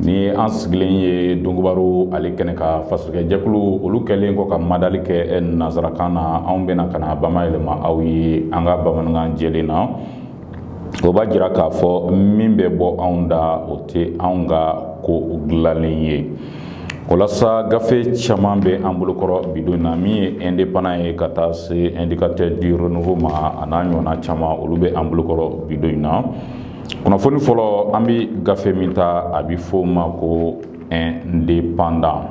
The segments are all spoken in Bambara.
ni an sigilen ye donkibaru ale kɛnɛ kan fasirikɛjɛkulu olu kɛlen kɔ ka madali kɛ nanzarakan na anw bɛna ka na bama yɛlɛma aw ye an ka bamanankan jɛlen na o b'a jira k'a fɔ min bɛ bɔ anw da o tɛ anw ka ko dilanlen ye walasa gafe caman bɛ an bolokɔrɔ bidon in na min ye indépendant ye ka taa se indicateur du renouveau ma a n'a ɲɔgɔnna caman olu bɛ an bolokɔrɔ bidon in na kunnafoni fɔlɔ an bɛ gafe min ta a bɛ fɔ o ma ko indépendant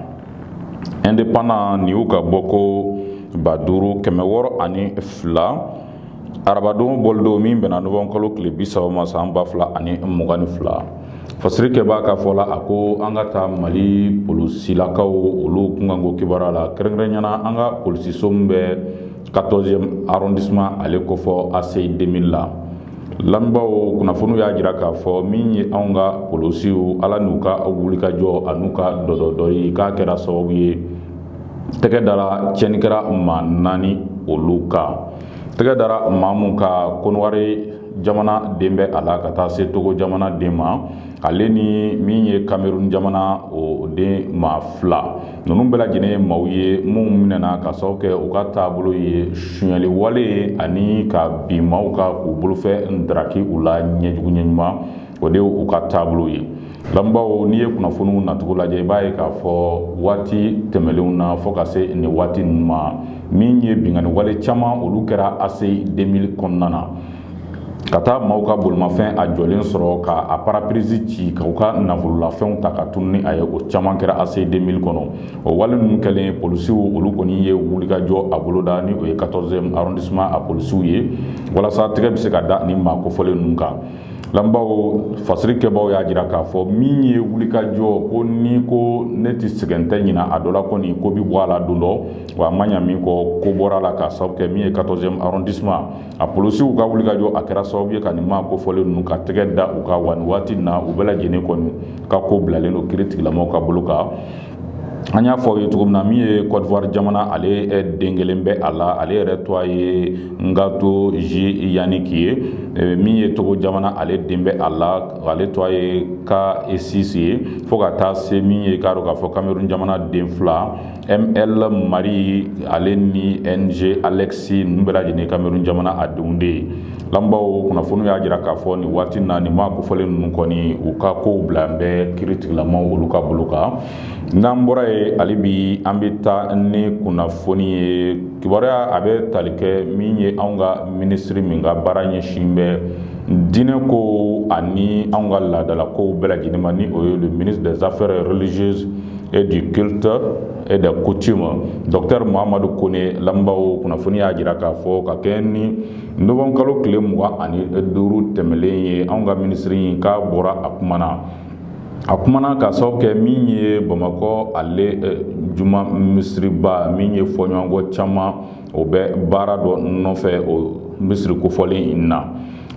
indépendant nin y'u ka bɔ ko ba duuru kɛmɛ wɔɔrɔ ani fila arabadon bɔlidon min bɛnna nowanburu kalo tile bisaba ma san ba fila ani mugan ni fila fasirikɛbaa ka fɔ la a ko an ka taa mali polosilakaw olu kunkanko kibaruya la kɛrɛnkɛrɛnnenya na an ka polisiso min bɛ 14e arrondissement ale kofɔ ACI 2000 la lamɛnbaaw kunnafoniw y'a jira k'a fɔ min ye anw ka polosiw ala n'u ka wulikajɔ ani u ka dɔdɔli k'a kɛra sababu ye tɛgɛ dara tiɲɛnikɛla maa naani olu kan tɛgɛ dara maa mun kan konowari jamana den bɛ a la ka taa se togo jamana den ma ale ni min ye kamerun jamana o den maa fila ninnu bɛɛ lajɛlen ye maaw ye minnu minɛna ka sababu kɛ u ka taabolo ye sonyali wale ye ani ka bin maaw kan k'u bolofɛn daraki u la ɲɛjugu ɲɛ ɲuman o de u ka taabolo ye lamɛnbaaw n'i ye kunnafoniw nacogo lajɛ i b'a ye k'a fɔ waati tɛmɛnlenw na fo ka se nin waati ninnu ma min ye binkanni wale caman olu kɛra ACI 2000 kɔnɔna na ka taa maaw ka bolimafɛn a jɔlen sɔrɔ ka a parapirisi ci ka u ka nafololafɛnw ta ka tunu ni a ye o caman kɛra ACI 2000 kɔnɔ o wale ninnu kɛlen polisiw olu kɔni ye wulikajɔ a boloda ni o ye 14e arrondissement a polisiw ye walasa tɛgɛ bɛ se ka da ni maa kofɔlen ninnu kan lamɛnbaaw fasirikɛbaaw y'a jira k'a fɔ min ye wulikajɔ ko ni ko ne tɛ sɛgɛn tɛ ɲina a dɔ la kɔni ko bɛ bɔ a la don dɔ wa a ma ɲa min kɔ ko bɔra a la k'a sababu kɛ min ye 14e arrondissement a polisiw ka wulikajɔ a kɛra sababu ye ka nin maa kofɔlen ninnu ka tɛgɛ da u kan wa nin waati na u bɛɛ lajɛlen kɔni ka ko bilalen don kiritigɛlamaaw ka bolo kan an y'a fɔ aw ye cogo min na min ye kɔdiwari jamana ale den kelen bɛ a la ale yɛrɛ tɔgɔ ye Ngato J Yannick ye min ye togo jamana ale den bɛ a la ale tɔgɔ ye Kasisi ye fo ka taa se min ye k'a dɔn k'a fɔ kamerun jamana den fila ML Marie ale ni NG Alexis ninnu bɛɛ lajɛlen ye Cameroun jamana a denw de ye lamɛnbaaw kunnafoniw y'a jira k'a fɔ nin waati in na nin maa kofɔlen ninnu kɔni u ka kow bilalen bɛ kiritigɛlamaaw olu ka bolo kan n'an bɔra ye hali bi an bɛ taa ni kunnafoni ye kibaruya a bɛ tali kɛ min ye anw ka minisiri min ka baara ɲɛsin bɛ diinɛkow ani anw ka laadalakow bɛɛ lajɛlen ma ni o ye le ministre des affaires religieuses et du culte et des coutumes docteur Mohamadu Kone lamɛnbaaw kunnafoni y'a jira k'a fɔ ka kɛɲɛ ni novembre kalo tile mugan ani duuru tɛmɛlen ye anw ka minisiri in k'a bɔra a kumana a kumana k'a sababu kɛ min ye Bamakɔ ale juma misiriba min ye fɔɲɔgɔnkɔ caman o bɛ baara dɔ nɔfɛ o misiri kofɔlen in na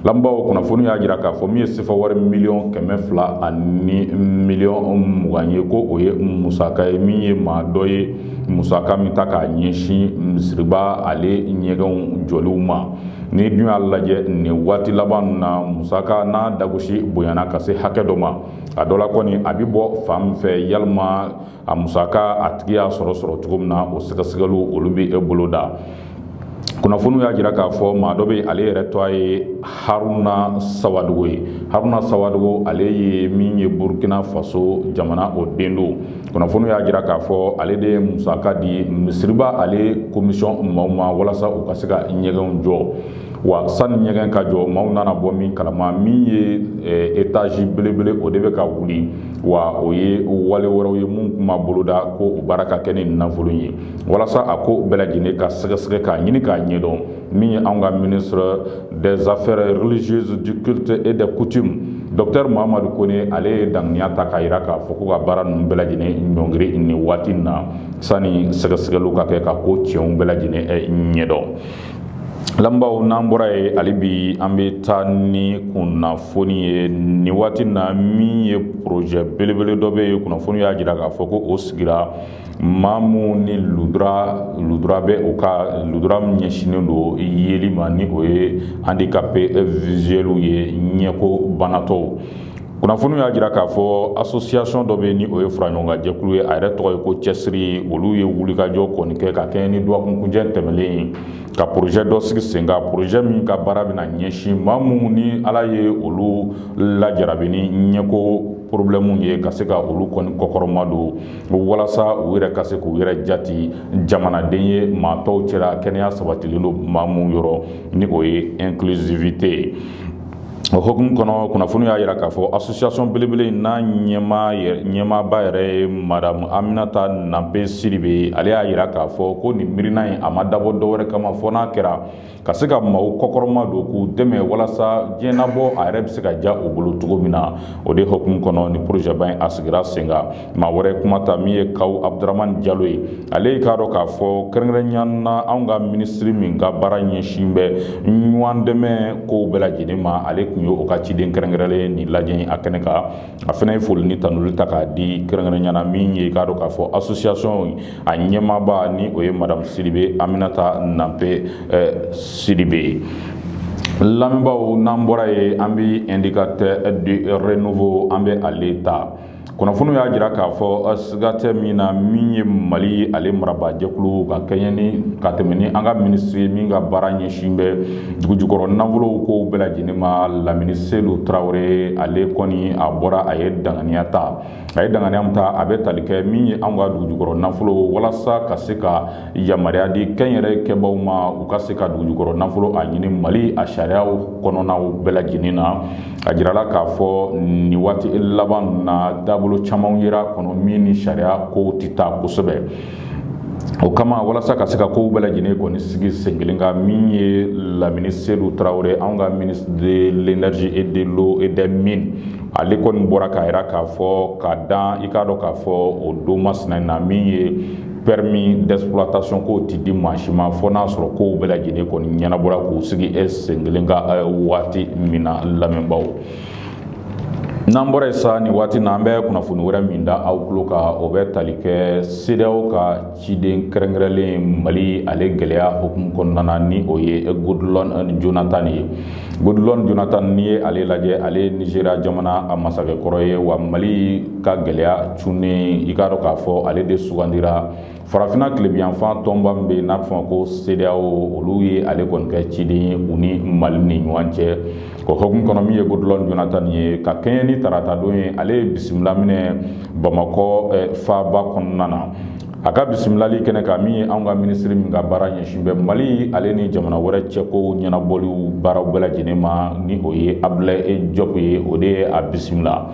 lamɛnbaaw kunnafoni y'a jira k'a fɔ min ye sefa wari miliyɔn kɛmɛ fila ani miliyɔn mugan ye ko o ye musaka ye min ye maa dɔ ye musaka min ta k'a ɲɛsin misiriba ale ɲɛgɛnw jɔliw ma n'i dun y'a lajɛ nin waati laban na musaka n'a dagosi bonyana ka se hakɛ dɔ ma a dɔ la kɔni a bɛ bɔ fan min fɛ yalima a musaka a tigi y'a sɔrɔ sɔrɔ cogo min na o sɛgɛsɛgɛliw olu bɛ boloda kunnafoniw y'a jira k'a fɔ maa dɔ bɛ ale yɛrɛ tɔgɔ ye Haruna Sawadogo ye Haruna Sawadogo ale ye min ye burukina faso jamana o den don kunnafoniw y'a jira k'a fɔ ale de ye musaka di misiriba ale commission maaw ma walasa u ka se ka ɲɛgɛnw jɔ wa sani ɲɛgɛn ka jɔ maaw nana bɔ min kalama min ye étage belebele o de bɛ ka wuli wa o ye wale wɛrɛw ye minnu tun ma boloda ko o baara ka kɛ ni nafolo ye walasa a ko bɛɛ lajɛlen ka sɛgɛsɛgɛ k'a ɲini k'a ɲɛdɔn min ye an ka ministre des affaires religieuses du culte et des coutumes docteur Mohamadu Kone ale ye daŋaniya ta k'a jira k'a fɔ ko ka baara ninnu bɛɛ lajɛlen ɲɔngiri nin waati in na sani sɛgɛsɛgɛliw ka kɛ ka ko tiɲɛw bɛɛ lajɛlen ɲɛdɔn lamɛnbaaw n'an bɔra ye hali bi an bɛ taa ni kunnafoni ye nin waati na min ye projet belebele dɔ bɛ ye kunnafoni y'a jira k'a fɔ ko o sigira maa minnu ni lujura lujura bɛ u ka lujura min ɲɛsinnen don yeli ma ni o ye handicapé visuel ye ɲɛko banatɔw kunnafoni y'a jira k'a fɔ association dɔ bɛ ni o ye faraɲɔgɔnkan jɛkulu ye a yɛrɛ tɔgɔ ye ko cɛsiri olu ye wulikajɔ kɔni kɛ ka kɛɲɛ ni dɔgɔkunkuncɛ tɛmɛlen ye ka projet dɔ sigi sen kan projet min ka baara bɛna ɲɛsin maa minnu ni ala ye olu lajarabi ni ɲɛko problème ye ka se ka olu kɔni kɔkɔrɔma don walasa u yɛrɛ ka se k'u yɛrɛ jati jamanaden ye maa tɔw cɛla kɛnɛya sabatilen don maa minnu yɔrɔ ni o ye inclusivité ye o hukumu kɔnɔ kunnafoni y'a jira k'a fɔ asosiyasɔn belebele in n'a ɲɛ ɲɛmaaba yɛrɛ ye madamu aminata nanpe sidibe ale y'a jira k'a fɔ ko nin miirina in a ma dabɔ dɔwɛrɛ kama fɔ n'a kɛra ka se ka maaw kɔkɔrɔma don k'u dɛmɛ walasa diɲɛnabɔ a yɛrɛ bɛ se ka diya u bolo cogo min na o de hukumu kɔnɔ nin porozɛba in a sigira sen maa wɛrɛ kuma ta min ye kawu abudurahmani jalo ye ale y'i k'a dɔn k'a fɔ kɛrɛnkɛrɛnnenya na anw ka minisiri min ka baara ɲɛsin bɛ ɲɔgɔn dɛmɛ kow bɛɛ lajɛlen ma ale tun ye o ka ciden kɛrɛnkɛrɛnlen nin lajɛ in a kɛnɛ kan a fana ye foli ni tanuli ta k'a di kɛrɛnkɛrɛnnenya na min ye k'a dɔn k'a fɔ asosiyasɔn a ɲɛmaaba ni o ye madamu sidibe aminata nanpe sidibe ye lamɛnbaaw n'an bɔra yen an bɛ indicateur du renouveau an bɛ ale ta kunnafoni y'a jira k'a fɔ siga tɛ min na min ye mali ale marabaajɛkulu ka kɛɲɛ ni ka tɛmɛ ni an ka minisiri min ka baara ɲɛsin bɛ dugujukɔrɔ nafolow kow bɛɛ lajɛlen ma lamini sedu tarawele ale kɔni a bɔra a ye danganiya ta a ye danganiya min ta a bɛ tali kɛ min ye an ka dugujukɔrɔ nafolo walasa ka se ka yamaruya di kɛnyɛrɛ kɛbaaw ma u ka se ka dugujukɔrɔ nafolo a ɲini mali a sariyaw kɔnɔnaw bɛɛ lajɛlen na a jirala k'a fɔ nin waati laban na dabolo caman yera kɔnɔ min ni sariya kow tɛ taa kosɛbɛ o kama walasa ka se ka kow bɛɛ lajɛlen kɔni sigi sen kelen kan min ye lamini sedu tarawele anw ka ministre de l'énergie et de l'eau et des mines ale kɔni bɔra k'a jira k'a fɔ ka dan i k'a dɔn k'a fɔ o don masina in na min ye permis d'exploitation kow ti di maa si ma fɔ n'a sɔrɔ kow bɛɛ lajɛlen kɔni ɲɛnabɔra k'u sigi e sen kelen kan waati min na lamɛnbaaw n'an bɔra yen sa nin waati na an bɛ kunnafoni wɛrɛ min da aw tulo kan o bɛ tali kɛ sedeyaw ka ciden kɛrɛnkɛrɛnlen mali ale gɛlɛya hukumu kɔnɔna na ni o ye goodluck jonathan ye Goodluck Jonathan n'i ye ale lajɛ ale ye Nizeriya jamana a masakɛ kɔrɔ ye wa Mali ka gɛlɛya cunnen i k'a dɔn k'a fɔ ale de sugandira farafinna tilebinyanfan tɔnba min bɛ yen n'a bɛ f'a ma ko CEDEAO olu ye ale kɔni kɛ ciden ye u ni Mali ni ɲɔgɔn cɛ o hukumu kɔnɔ min ye Goodluck Jonathan ye ka kɛɲɛ ni tarata don ye ale ye bisimila minɛ Bamakɔ faaba kɔnɔna na a ka bisimilali kɛnɛ kan min ye anw ka minisiri min ka baara ɲɛsin bɛ mali ale ni jamana wɛrɛ cɛko ɲɛnabɔliw baaraw bɛɛ lajɛlen ma ni o ye abudulayi jɔpu ye o de ye a bisimila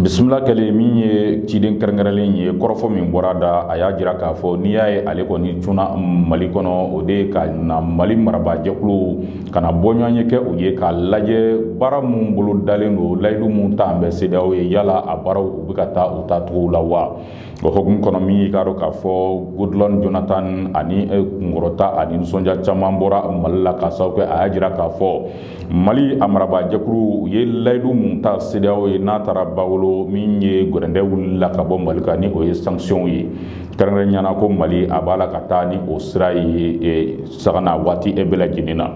bisimila kɛlen min ye ciden kɛrɛnkɛrɛnlen ye kɔrɔfɔ min bɔra da a y'a jira k'a fɔ n'i y'a ye ale kɔni cunna mali kɔnɔ o de ye ka na mali marabaajɛkulu ka na bɔɲɔgɔn ye kɛ u ye k'a lajɛ baara minnu bolo dalen don layidu minnu talen bɛ sedeyaw ye yala a baaraw u bɛ ka taa u tacogo la wa o hokumu kɔnɔ min y'i k'a dɔn k'a fɔ Goodluck Jonathan ani kunkɔrɔta ani nisɔndiya caman bɔra mali la k'a sababu kɛ a y'a jira k'a fɔ mali a marabaajɛkulu u ye layidu minnu ta sedeyawo ye n'a taara ba wolo min ye gɛrɛntɛ wilila ka bɔ mali kan ni o ye sanctionw ye kɛrɛnkɛrɛnyana ko mali a b'a la ka taa ni o sira ye saga na waati bɛɛ lajɛlen na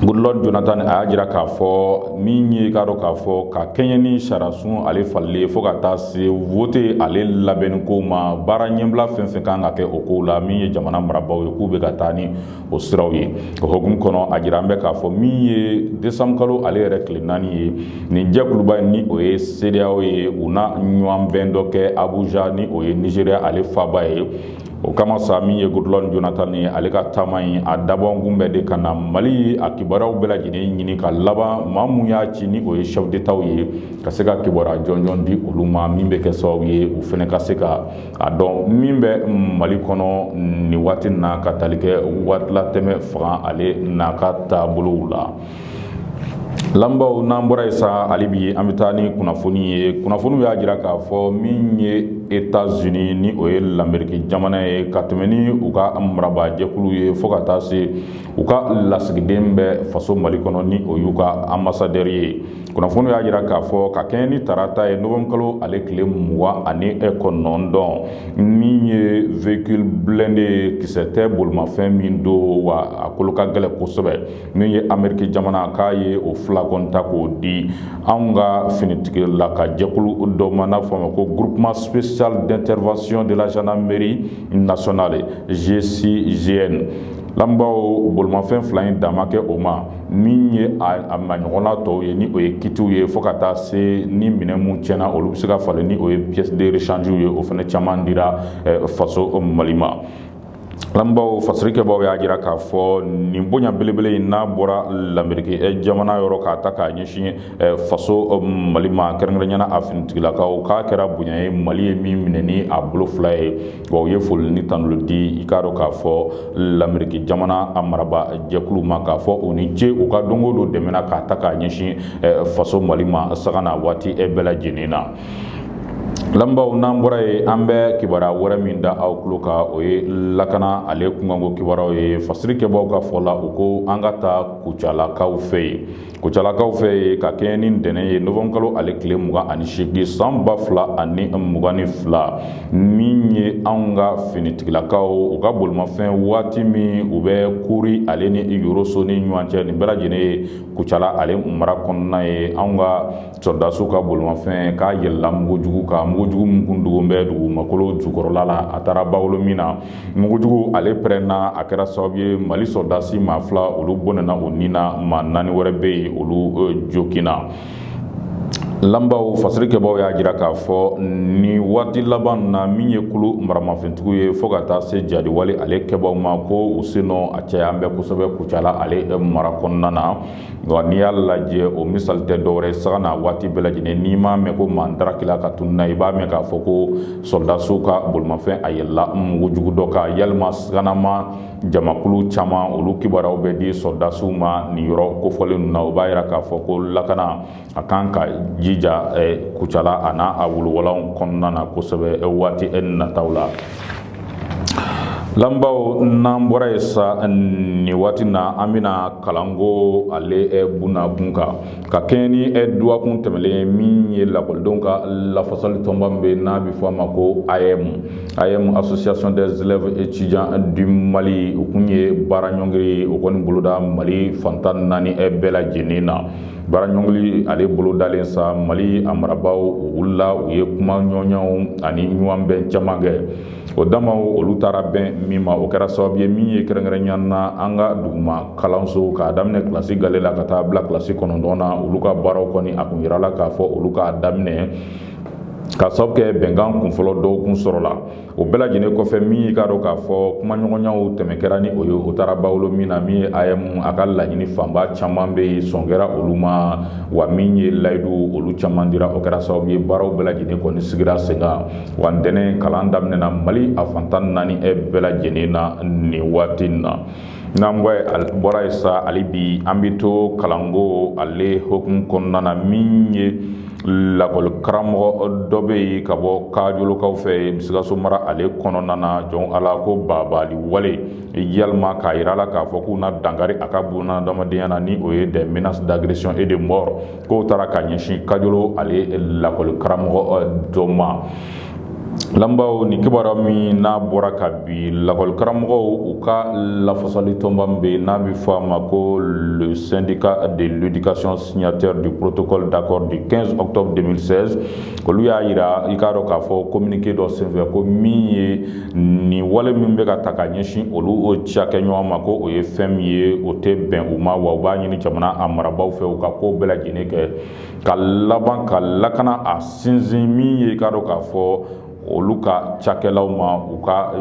Goodluck Jonathan a y'a jira k'a fɔ min ye k'a dɔn k'a fɔ ka kɛɲɛ ni sariyasun ale falenni ye fo ka taa se vote ale labɛnni ko ma baara ɲɛbila fɛn fɛn kan ka kɛ o kow la min ye jamana marabaaw ye k'u bɛ ka taa ni o siraw ye o hokumu kɔnɔ a jira an bɛ k'a fɔ min ye desanbu kalo ale yɛrɛ tile naani ye nin jɛkuluba in ni o ye sedeyawo ye u na ɲɔgɔnbɛn dɔ kɛ Abuja ni o ye nizeriya ale faaba ye o kama sa min ye Goodluck Jonathan ye ale ka taama in a dabɔkun bɛɛ de ka na mali a kibaruyaw bɛɛ lajɛlen ɲini ka laban maa minnu y'a ci ni o ye chef d'Étatw ye ka se ka kibaruya jɔnjɔn di olu ma min bɛ kɛ sababu ye u fana ka se ka a dɔn min bɛ mali kɔnɔ nin waati na ka tali kɛ waatilatɛmɛ fanga ale n'a ka taabolow la Lamɛnbaaw n'an bɔra yen sa hali bi an bɛ taa ni kunnafoni ye kunnafoniw y'a jira k'a fɔ min ye États-Unis ni o ye lamerike jamana ye ka tɛmɛn ni u ka marabaajɛkulu ye fo ka taa se u ka lasigiden bɛ faso mali kɔnɔ ni o y'u ka ambassadeur ye kunnafoni y'a jira k'a fɔ ka kɛɲɛ ni tarata ye novembre kalo ale tile mugan ani e kɔnɔntɔn min ye véhicule blindé ye kisɛ tɛ bolimafɛn min don wa a kolo ka gɛlɛn kosɛbɛ min ye ameriki jamana k'a ye o fila kɔni ta k'o di anw ka finitigilaka jɛkulu dɔ ma n'a f'a ma ko groupement spécial d'intervention de la gendarmerie nationale GCGN lamɛnbaaw bolimafɛn fila in dan ma kɛ o ma min ye a maɲɔgɔnna tɔw ye ni o ye kitiw ye fo ka taa se ni minɛn minnu tiɲɛna olu bɛ se ka falen ni o ye pièce de rechange ye o fana caman dira faso Mali ma lamɛnbaaw fasirikɛbaaw y'a jira k'a fɔ nin bonya belebele in n'a bɔra lamerike eh, jamana yɔrɔ k'a ta k'a ɲɛsin eh, faso eh, mali ma kɛrɛnkɛrɛnyana a finitigilakaw k'a kɛra bonya ye mali ye min minɛ ni a bolo fila ye wa u ye foli ni tanuli di i k'a dɔn k'a fɔ lamerike jamana a maraba jɛkulu ma k'a fɔ u ni ce u ka don o don dɛmɛ na k'a ta k'a ɲɛsin faso mali ma saga na waati bɛɛ lajɛlen na Lamɛnbaaw n'an bɔra yen an bɛ kibaruya wɛrɛ min da aw tulo kan o ye lakana ale kunkanko kibaruyaw ye fasirikɛbagaw ka fɔ la u ko an ka taa kucalakaw fɛ yen kucalakaw fɛ yen ka kɛɲɛ ni ntɛnɛn ye novembre kalo ale tile mugan ani segin san ba fila ani mugan ni fila min ye an ka finitigilakaw u ka bolimafɛn waati min u bɛ Kuri ale ni yɔrɔso ni ɲɔgɔn cɛ nin bɛɛ lajɛlen ye kucala ale mara kɔnɔna ye an ka sɔrɔdasiw ka bolimafɛn k'a yɛlɛla mugujugu kan mugujugu min kun dogo bɛ dugumakolo jukɔrɔla la a taara bawolo min na mugujugu ale pɛrɛnna a kɛra sababu ye mali sɔrɔdasi maa fila olu bɔnɛna u ni na maa naani wɛrɛ bɛ yen olu joginna Lamɛnbaaw fasiri kɛbaaw y'a jira k'a fɔ nin waati laban na min ye kulu maramafɛntigiw ye fo ka taa se jadiwale ale kɛbaaw ma ko u sennɔ a caya bɛ kosɛbɛ Kucala ale mara kɔnɔna na wa n'i y'a lajɛ o misali tɛ dɔwɛrɛ ye sanga ni waati bɛɛ lajɛlen n'i m'a mɛn ko maa dara kila ka tununna i b'a mɛn k'a fɔ ko sɔrɔdasiw ka bolimafɛn a yɛlɛla mugu jugu dɔ kan yalima siganama jamakulu caman olu kibaruyaw bɛ di sɔrɔdasiw ma nin yɔrɔ kofɔlen ninnu na o b'a jira k'a fɔ ko lakana a kan ka jija kucala a n'a a wolowalanw kɔnɔna na kosɛbɛ waati nataw la lamɛnbaaw n'an bɔra yen sa nin waati na an bɛna kalanko ale bunakun kan ka kɛɲɛ ni dɔgɔkun tɛmɛnlen min ye lakɔlidenw ka lafasali tɔnba min bɛ n'a bɛ fɔ a ma ko AEEM AEEM association des élèves étudiants du mali u kun ye baara ɲɔngiri o kɔni boloda mali fan tan naani bɛɛ lajɛlen na baara ɲɔngiri ale bolodalen sa mali a marabaaw wulila u ye kumaɲɔgɔnyaw ani ɲɔgɔnbɛn caman kɛ o damaw olu taara bɛn min ma o kɛra sababu ye min ye kɛrɛnkɛrɛnya na an ka duguma kalanso k'a daminɛ kilasi gale la ka taa bila kilasi kɔnɔntɔn na olu ka baaraw kɔni a kun jirala k'a fɔ olu ka daminɛ ka sababu kɛ bɛnkan kunfɔlɔ dɔw kun sɔrɔla o bɛɛ lajɛlen kɔfɛ min y'i k'a dɔn k'a fɔ kumaɲɔgɔnyaw tɛmɛn kɛra ni o ye o taara bawolo min na min ye AEEM a ka laɲini fanba caman bɛ yen sɔn kɛra olu ma wa min ye layidu olu caman dira o kɛra sababu ye baaraw bɛɛ lajɛlen kɔni sigira sen kan wa ntɛnɛn kalan daminɛna mali a fan tan naani e bɛɛ lajɛlen na nin waati in na N'an bɔra yen sa hali bi an bɛ to kalanko ale hukumu kɔnɔna na min ye lakɔli karamɔgɔ dɔ bɛ yen ka bɔ kajolokaw fɛ sikaso mara ale kɔnɔna na jɔn a la ko bagabagali wale yalima k'a jira a la k'a fɔ k'u na dankari a ka bunadamadenya na ni o ye des menaces d'agression et de mort k'o taara ka ɲɛsin kajolo ale lakɔli karamɔgɔ dɔ ma lamɛnbaaw nin kibaruya min n'a bɔra ka bi lakɔli karamɔgɔw u ka lafasali tɔnba min bɛ n'a bɛ fɔ a ma ko le syndicat de l'éducation signataire du protocole d'accord du 15 octobre 2016 olu y'a yira i k'a dɔn k'a fɔ communiqué dɔ senfɛ ko min ye nin wale min bɛ ka taa ka ɲɛsin olu o cakɛ ɲɔgɔn ma ko o ye fɛn min ye o tɛ bɛn u ma wa u b'a ɲini jamana a marabaaw fɛ u ka ko bɛɛ lajɛlen kɛ ka laban ka lakana a sinsin min ye i k'a dɔn k'a fɔ olu ka cakɛlaw ma u ka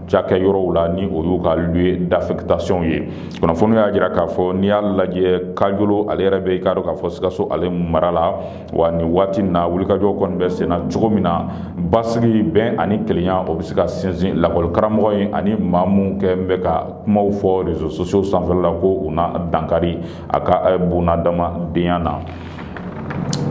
cakɛ yɔrɔw la ni o y'u ka lieu d'affectation ye kunnafoniw y'a jira k'a fɔ n'i y'a lajɛ kajolo ale yɛrɛ bɛ i k'a dɔn k'a fɔ sikaso ale mara la wa nin waati in na wulikajɔ kɔni bɛ senna cogo min na basigi bɛn ani kelenya o bɛ se ka sinsin lakɔli karamɔgɔ in ani maa minnu kun bɛ ka kumaw fɔ réseaux sociaux sanfɛla la ko u na dankari a ka eh, bunadamadenya na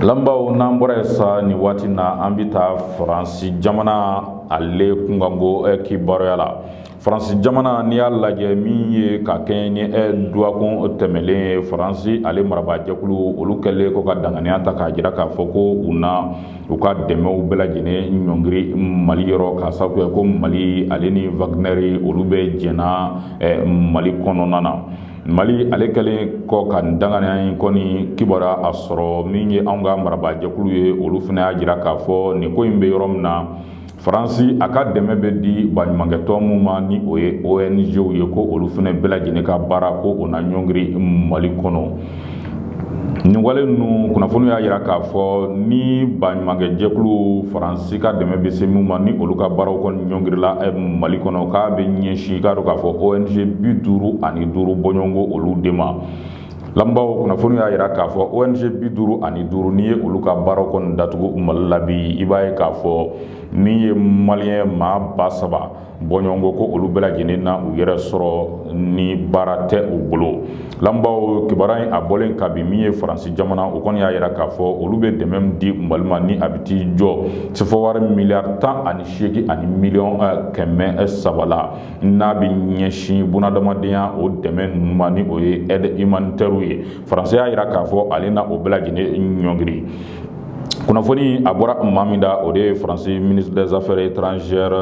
lamɛnbaaw n'an bɔra yen sa nin waati na an bɛ taa faransi jamana ale kunkanko eh, kibaruya la faransi jamana n'i y'a lajɛ min ye ka kɛɲɛ ni ɛ duwakun tɛmɛlen ye faransi ale marabaajɛkulu olu kɛlen kɔ ka danganiya ta k'a jira k'a fɔ ko u na u ka dɛmɛw bɛɛ lajɛlen ɲɔngiri mali yɔrɔ k'a sababu kɛ ko mali ale ni wagnɛri olu bɛ jɛn na mali kɔnɔna na mali ale kɛlen kɔ ka nin danganiya in kɔni kibaruya sɔrɔ min ye anw ka marabaajɛkulu ye olu fana y'a jira k'a fɔ nin ko in bɛ yɔrɔ min na Faransi a ka dɛmɛ bɛ di baɲumankɛtɔn minw ma ni o ye ONG-w ye ko olu fana bɛɛ lajɛlen ka baara ko o na ɲɔngiri Mali kɔnɔ. Nin wale ninnu kunnafoni y'a jira k'a fɔ ni baɲumankɛ jɛkulu Faransi ka dɛmɛ bɛ se minw ma ni olu ka baaraw kɔni ɲɔngirila eh, Mali kɔnɔ k'a bɛ ɲɛsin k'a dɔn k'a fɔ ONG bi duuru ani duuru bɔɲɔgɔnko olu de ma. Lamɛnbaaw kunnafoni y'a jira k'a fɔ ONG 55 n'i ye olu ka baaraw kɔni datugu Mali la bi, i b'a ye k'a fɔ min ye maliyɛn maa ba saba bɔɲɔgɔnko ko olu bɛɛ lajɛlen na u yɛrɛ sɔrɔ ni baara tɛ u bolo. Lamɛnbaaw kibaruya in a bɔlen kabi min ye Faransi jamana, o kɔni y'a jira k'a fɔ olu bɛ dɛmɛ min di Mali ma ni a bɛ t'i jɔ sefawari miliyari tan ani seegin ani miliyɔn kɛmɛ saba la. n'a bɛ ɲɛsin bunadamadenya o dɛmɛ ninnu ma ni o ye aide humanitairew ye faransi y'a jira k'a fɔ ale na o bɛɛ lajɛlen ɲɔngiri kunnafoni a bɔra maa min da o de ye faransi ministre des affaires étrangères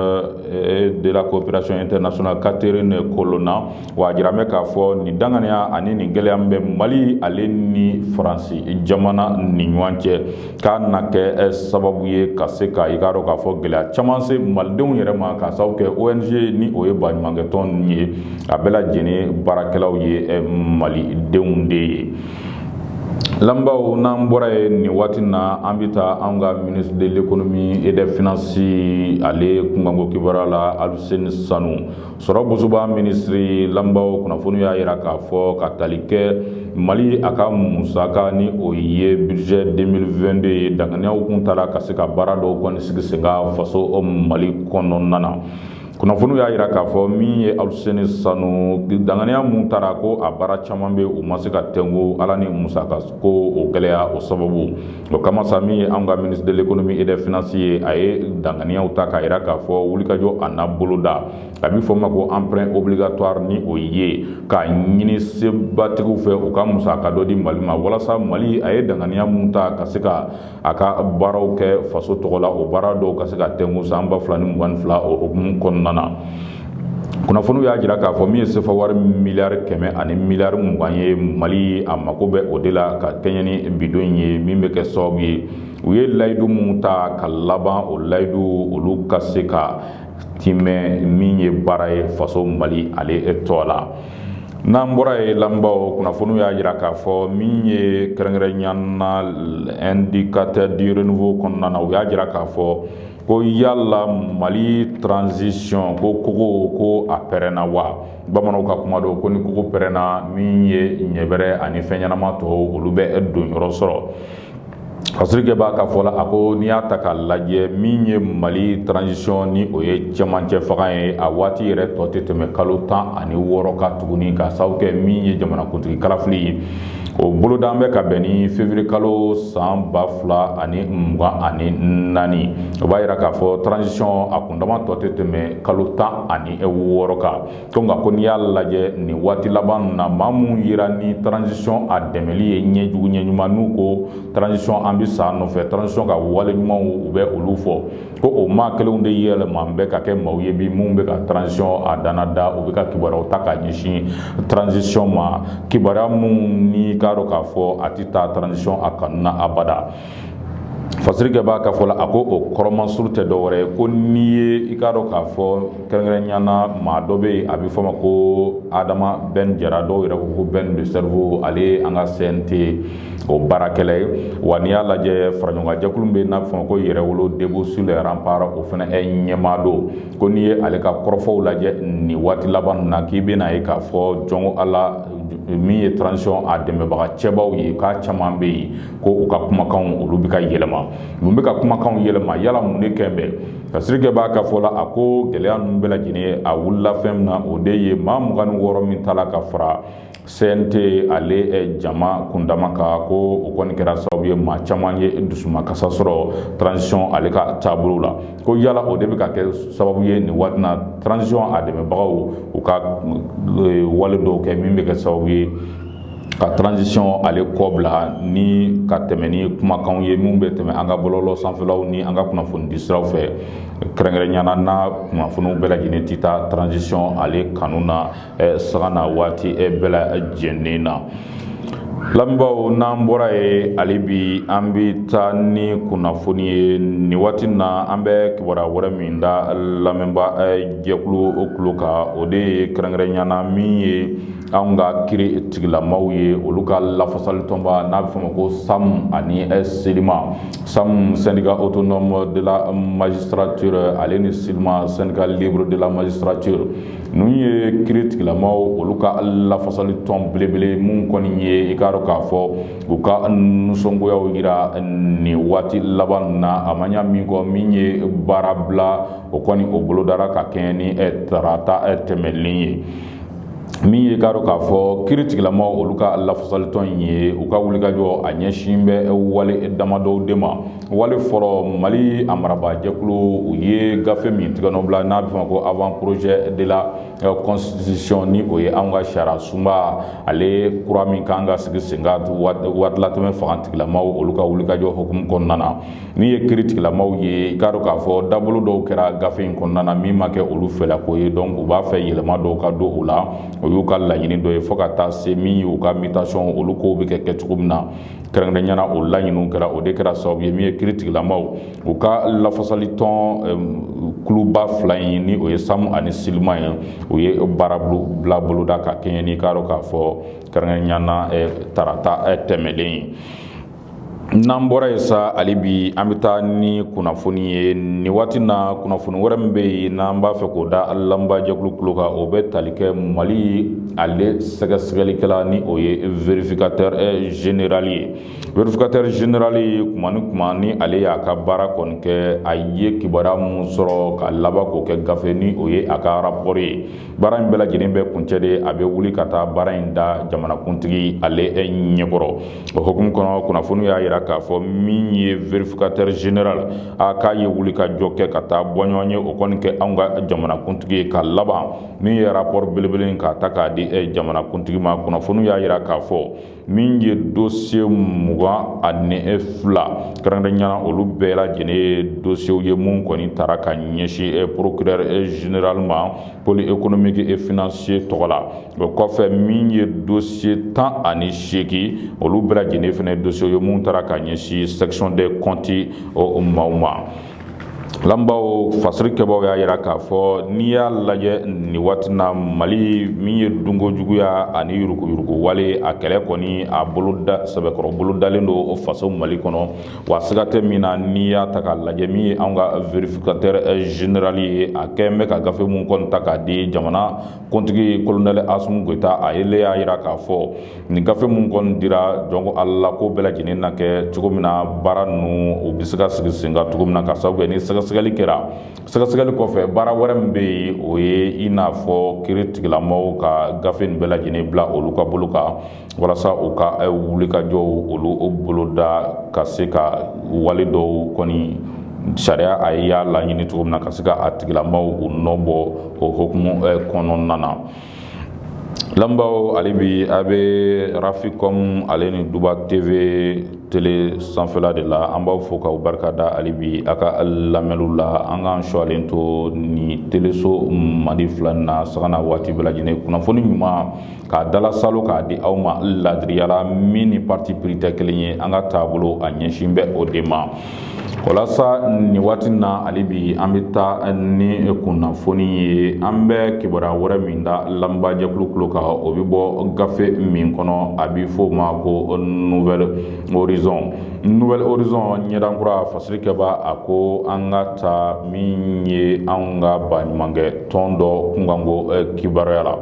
et de la coopération internationale catherine colonna wa a jiralen bɛ k'a fɔ nin danganiya ani nin gɛlɛya min bɛ mali ale ni faransi jamana ni ɲɔgɔn cɛ k'a na kɛ sababu ye ka se ka i k'a dɔn k'a fɔ gɛlɛya caman se malidenw yɛrɛ ma k'a sababu kɛ ONG ni o ye baɲumankɛtɔn ninnu ye a bɛɛ lajɛlen baarakɛlaw ye malidenw de ye lamɛnbaaw n'an bɔra yen nin waati na an bɛ taa an ka ministre de l'économie et des finances ale kunkanko kibaruya la Aluseni Sanu sɔrɔ bosoba minisiri lamɛnbaaw kunnafoni y'a jira k'a fɔ ka tali kɛ mali a ka musaka ni o ye budget 2022 ye danganiyaw kun tara ka se ka baara dɔw kɔni sigi sen kan faso mali kɔnɔna na kunnafoniw y'a jira k'a fɔ min ye aluseni sanu danganiya minnu tara ko a baara caman bɛ u ma se ka tɛnku ala ni musakako o gɛlɛya o sababu O kama sa min ye an ka ministre de l'économie et des finances ye a ye danganiyaw ta k'a jira k'a fɔ wulikajɔ a na boloda a bɛ fɔ ma ko emprunt obligatoire ni o ye k'a ɲini sebatigiw fɛ u ka musaka dɔ di mali ma walasa mali a ye danganiya minnu ta ka se ka a ka baaraw kɛ faso tɔgɔ la o baara dɔw ka se ka tɛnku san ba fila ni mugan ni fila o hukumu kɔnɔna na kunnafoniw y'a jira k'a fɔ min ye sefa wari miliyari kɛmɛ ani miliyari mugan ye mali a mako bɛ o de la ka kɛɲɛ ni bi don in ye min bɛ kɛ sababu ye u ye layidu minnu ta ka laban o layidu olu ka se ka tiimɛ min ye baara ye faso mali ale tɔgɔ la n'an bɔra yen lamɛnbaaw kunnafoniw y'a jira k'a fɔ min ye kɛrɛnkɛrɛnnenya na indicateur du renouveau kɔnɔna na u y'a jira k'a fɔ ko yala mali transition ko kogo ko a pɛrɛnna wa bamananw ka kuma don ko ni kogo pɛrɛnna min ye ɲɛbɛrɛ ani fɛn ɲɛnama tɔw olu bɛ don yɔrɔ sɔrɔ fasirikɛbaa ka fɔ la a ko n'i y'a ta k'a lajɛ min ye mali transition ni o ye cɛmancɛ fanga ye a waati yɛrɛ tɔ tɛ tɛmɛ kalo tan ani wɔɔrɔ kan tuguni ka sababu kɛ min ye jamanakuntigi kalafili ye o boloda bɛ ka bɛn ni février kalo san ba fila ani mugan ani naani o b'a jira k'a fɔ transition a kundama tɔ tɛ tɛmɛ kalo tan ani wɔɔrɔ kan ko nka ko n'i y'a lajɛ nin waati laban na maa minnu jira ni transition a dɛmɛli ye ɲɛ jugu ɲɛ ɲuman n'u ko transition an bɛ sa nɔfɛ transition ka wale ɲumanw u bɛ olu fɔ ko o maa kelenw de yɛlɛma bɛ ka kɛ maaw ye bi minnu bɛ ka transition a dana da u bɛ ka kibaruyaw ta k'a ɲɛsin transition ma kibaruya minnu n'i k'a dɔn k'a fɔ a tɛ taa transition a kanu na abada fasirikɛbaa ka fɔ la a ko o kɔrɔ masurun tɛ dɔwɛrɛ ye ko n'i ye i k'a dɔn k'a fɔ kɛrɛnkɛrɛnnenya na maa dɔ bɛ yen a bɛ fɔ ma ko adama bɛn jara dɔw yɛrɛ ko ko bɛn le cerveau ale ye an ka CNT o baarakɛla ye wa n'i y'a lajɛ faraɲɔgɔnjɛkulu bɛ n'a bɛ fɔ ma ko yɛrɛwolo debout sur les remparts o fana ɲɛmaa don ko n'i ye ale ka kɔrɔfɔw lajɛ nin waati laban na k'i bɛna a ye k'a fɔ jɔn ko ala min ye transition a dɛmɛbaga cɛbaw ye k'a caman bɛ yen ko u ka kumakanw olu bɛ ka yɛlɛma mun bɛ ka kumakanw yɛlɛma yala mun de kɛlen bɛ fasirikɛbaa ka fɔ la a ko gɛlɛya ninnu bɛɛ lajɛlen a wulila fɛn min na o de ye maa mugan ni wɔɔrɔ min tala ka fara CNT ale jama kundama kan ko o kɔni kɛra sababu ye maa caman ye dusumakasi sɔrɔ transition ale ka taabolo la ko yala o de bɛ ka kɛ sababu ye nin waati na transition a dɛmɛbagaw u ka wale dɔw kɛ min bɛ kɛ sababu ye ka transition ale kɔbila ni ka tɛmɛ ni kumakanw ye min bɛ tɛmɛ an ka bɔlɔlɔ sanfɛlaw ni an ka kunnafoni di siraw fɛ kɛrɛnkɛrɛnnenya na kunnafoniw bɛɛ lajɛlen tɛ taa transition ale kanu na sanga na waati bɛɛ lajɛnen na lamɛnbaaw n'an bɔra yen hali bi an bɛ taa ni kunnafoni ye nin waati na an bɛ kibaruya wɛrɛ min da lamɛnba jɛkulu kulo kan o de ye kɛrɛnkɛrɛnyana min ye anw ka kiri tigilamaw ye olu ka lafasalitɔnba n'a bɛ fɔ ma ko samu ani silima samu syndicat autonome de la magistrature ale ni silima syndicat libre de la magistrature Ninnu ye kiri tigilamaw olu ka lafasali tɔn belebele minnu kɔni ye i k'a dɔn k'a fɔ u ka nisɔngoyaw yira nin waati laban na a ma ɲa min kɔ min ye baara bila o kɔni o bolodara ka kɛɲɛ ni tarata tɛmɛlen ye min ye i k'a dɔn k'a fɔ kiri tigilamaw olu ka lafasali tɔn in ye u ka wulikajɔ a ɲɛsin bɛ wale damadɔw de ma wale fɔlɔ mali a marabaajɛkulu u ye gafe min tigɛnɔbila n'a bɛ fɔ ma ko avant projet de la constitution ni o ye an ka sariya sunba ale kura min kan ka sigi sen kan waatilatɛmɛ fangatigilamaw olu ka wulikajɔ hukumu kɔnɔna na min ye kiritigilamaw ye i k'a dɔn k'a fɔ dabolo dɔw kɛra gafe in kɔnɔna na min ma kɛ olu fɛla ko ye donc u b'a fɛ yɛlɛma dɔw ka don o la o y'u ka laɲini dɔ ye fo ka taa se min ye u ka mutation olu kow bɛ kɛ kɛ cogo min na kɛrɛnkɛrɛnyana o laɲiniw kɛra o de kɛra sababu ye min ye kiritigilamaw u ka lafasali tɔn kuluba fila in ni o ye samu ani silima ye u ye baara bila boloda ka kɛɲɛ n'i k'a dɔn k'a fɔ kɛrɛnkɛrɛnyana tarata tɛmɛlen ye n'an bɔra yen sa hali bi an bɛ taa ni kunnafoni ye nin waati na kunnafoni wɛrɛ min bɛ yen n'an b'a fɛ k'o da lamɛnba jɛkulu kulo kan o bɛ tali kɛ mali ale sɛgɛsɛgɛlikɛla ni o ye vérificateur eh, général ye vérificateur général kuma ni kuma ni ale y'a ka baara kɔni kɛ a ye kibaruya minnu sɔrɔ ka laban k'o kɛ gafe ni o ye a ka rapport ye baara in bɛɛ lajɛlen bɛ kuncɛ de a bɛ wuli ka taa baara in da jamanakuntigi ale eh, ɲɛkɔrɔ o hukumu kɔnɔ kunnafoniw y'a yira k'a fɔ min ye vérificateur général a k'a ye wulikajɔ kɛ ka taa bɔɲɔgɔn ye o kɔni kɛ anw ka jamanakuntigi ye ka laban min ye rapport belebele in k'a ta k'a di eh, jamanakuntigi ma kunnafoniw y'a yira k'a fɔ min ye dosiye mugan ani eh, fila kɛrɛnkɛrɛnyana olu bɛɛ lajɛlen ye dosiyew ye mun kɔni tara ka ɲɛsin eh, procureur général ma pôle économique et financier tɔgɔ la o kɔfɛ min ye dosiye tan ani seegin olu bɛɛ lajɛlen fana dosiyew ye mun tara ka ɲɛsin section des comptes o maaw ma lamɛnbaaw fasiri kɛbaaw y'a yira k'a fɔ n'i y'a lajɛ nin waati na mali min ye dunko juguya ani yuruguyurugu wale a kɛlɛ kɔni a boloda sɛbɛkɔrɔ bolodalen don o faso mali kɔnɔ wa siga tɛ min na n'i y'a ta k'a lajɛ min ye an ka vérificateur général ye a kɛn bɛ ka gafe minnu kɔni ta k'a di jamana kuntigi kolonɛli asumu goyita a yɛrɛ y'a jira k'a fɔ nin gafe minnu kɔni dira jɔn ko ala ko bɛɛ lajɛlen na kɛ cogo min na baara ninnu u bɛ se ka sigi sen kan cogo min na ka sababu kɛ ni sɛgɛsɛgɛli kɛra sɛgɛsɛgɛli kɔfɛ baara wɛrɛ min bɛ yen o ye i n'a fɔ kiri tigilamaw ka gafe in bɛɛ lajɛlen bila olu ka bolo kan walasa u ka eh, wulikajɔw olu o boloda ka se ka wale dɔw kɔni sariya a y'a laɲini cogo min na ka se ka a tigilamaw u nɔ bɔ o hokumu eh, kɔnɔna na lamɛnbaaw hali bi a bɛ raficom ale ni duba tv tele sanfɛla de la an b'aw fo k'aw barika da hali bi a ka lamɛnniw la an k'an sɔalen to ni teleso mali fila na sanga ni waati bɛɛ lajɛlen kunnafoni ɲuman k'a dala salo k'a di aw ma ladiriya la min ni parti pris tɛ kelen ye an ka taabolo a ɲɛsin bɛ o de ma walasa nin waati na hali bi an bɛ taa ni kunnafoni ye an bɛ kibaruya wɛrɛ min da lamɛnbaajɛkulu kulo kan o bɛ bɔ gafe min kɔnɔ a bɛ f'o ma ko nouvel horizon nouvel horizon ɲɛdan kura fasirikɛbaa a ko an ka taa min ye an ka baɲumankɛ tɔn dɔ kunkanko kibaruya la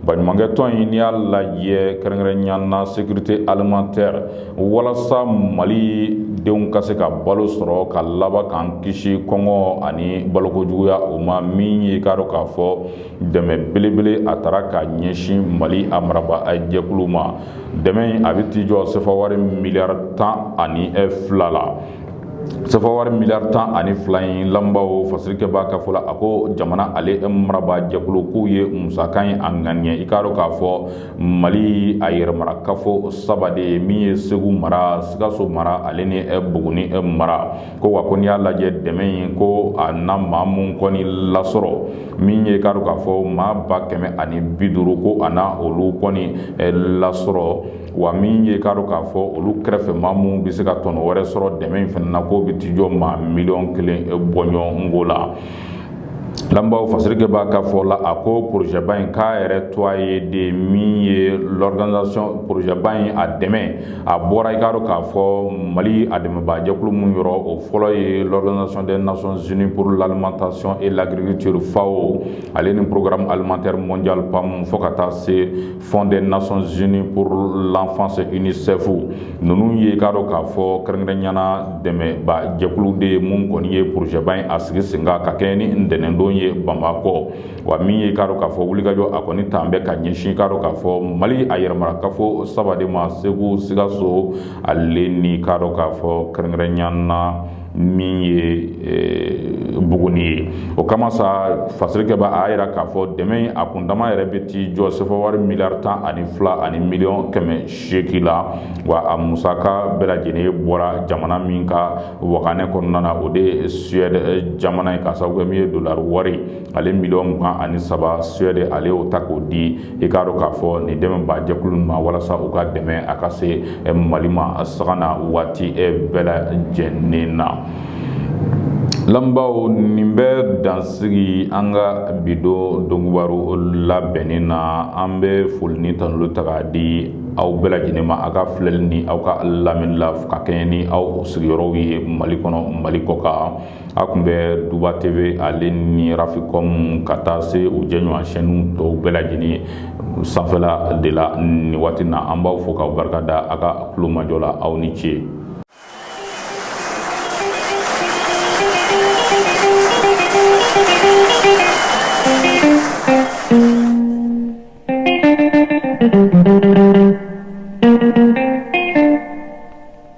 Baɲumankɛ tɔn in n'i y'a lajɛ kɛrɛnkɛrɛnya na sécurité alimentaire walasa mali denw ka se ka balo sɔrɔ ka laban k'an kisi kɔngɔ ani baloko juguya o ma min ye k'a dɔn k'a fɔ dɛmɛ belebele a taara ka ɲɛsin mali a marabaa jɛkulu ma dɛmɛ a bɛ t'i jɔ sefa wari miliyari tan ani fila la sefawari miliyari tan ani fila in lamɛnbaaw fasirikɛbaa ka fɔ la a ko jamana ale marabaa jɛkulu k'u ye musaka in a ŋaniya i k'a dɔn k'a fɔ mali a yɛrɛmarakafo saba de ye min ye segu mara sikaso mara ale ni buguni mara ko wa ko n'i y'a lajɛ dɛmɛ in ko a na maa minnu kɔni lasɔrɔ min ye k'a dɔn k'a fɔ maa ba kɛmɛ ani bi duuru ko a na olu kɔni lasɔrɔ wa min ye k'a dɔn k'a fɔ olu kɛrɛfɛ maa minnu bɛ se ka tɔnɔ wɛrɛ sɔrɔ dɛmɛ in fana na k'o bɛ t'i jɔ maa miliyɔn kelen bɔɲɔgɔn ko la lamɛnbaaw fasirikɛbaa ka fɔ la a ko porozɛba in k'a yɛrɛ to a ye de min ye l'organisation porozɛba in a dɛmɛ a bɔra i k'a dɔn k'a fɔ mali a dɛmɛbaajɛkulu min yɔrɔ o fɔlɔ ye l'organisation des nations unies pour l'alimentation et l'agriculture FAO ale ni programme alimentaire mondial PAM fo ka taa se fonds des nations unies pour l'enfance UNICEF ninnu ye k'a dɔn k'a fɔ kɛrɛnkɛrɛnya na dɛmɛbaa jɛkulu de ye minnu kɔni ye porozɛba in a sigi sen kan ka kɛɲɛ ni ntɛnɛndon ye bamakɔ wa min ye k'a dɔn k'a fɔ wulikajɔ a kɔni taalen bɛ ka ɲɛsin k'a dɔn k'a fɔ mali a yɛrɛmarakafo saba de ma segu sikaso ale ni k'a dɔn k'a fɔ kɛrɛnkɛrɛnya na min ye buguni ye o kama sa fasirikɛ b'a a yira k'a fɔ dɛmɛ a kundama yɛrɛ bɛ t'i jɔ sefa wari miliyari tan ani fila ani miliyɔn kɛmɛ seegin la wa a musaka bɛɛ lajɛlen bɔra jamana min ka waganɛ kɔnɔna na o de ye suɛde jamana ye k'a sababu kɛ min ye dolari wari ale miliyɔn mugan ani saba suɛde ale y'o ta k'o di i k'a dɔn k'a fɔ nin dɛmɛbaa jɛkulu ma walasa u ka dɛmɛ a ka se eh, mali ma sanga ni waati eh, bɛɛ lajɛlen na lamɛnbaaw nin bɛ dansigi an ka bi don donkibaru labɛnnen na an bɛ foli ni tanuli ta k'a di aw bɛɛ lajɛlen ma aw ka filɛli ni aw ka lamɛnni la ka kɛɲɛ ni aw sigiyɔrɔw ye mali kɔnɔ mali kɔkan aw kun bɛ duba tv ale ni rafikɔn ka taa se u jɛɲɔgɔn chaîne tɔw bɛɛ lajɛlen ye sanfɛla de la nin waati na an b'aw fo k'aw barika da a ka kulomajɔ la aw ni ce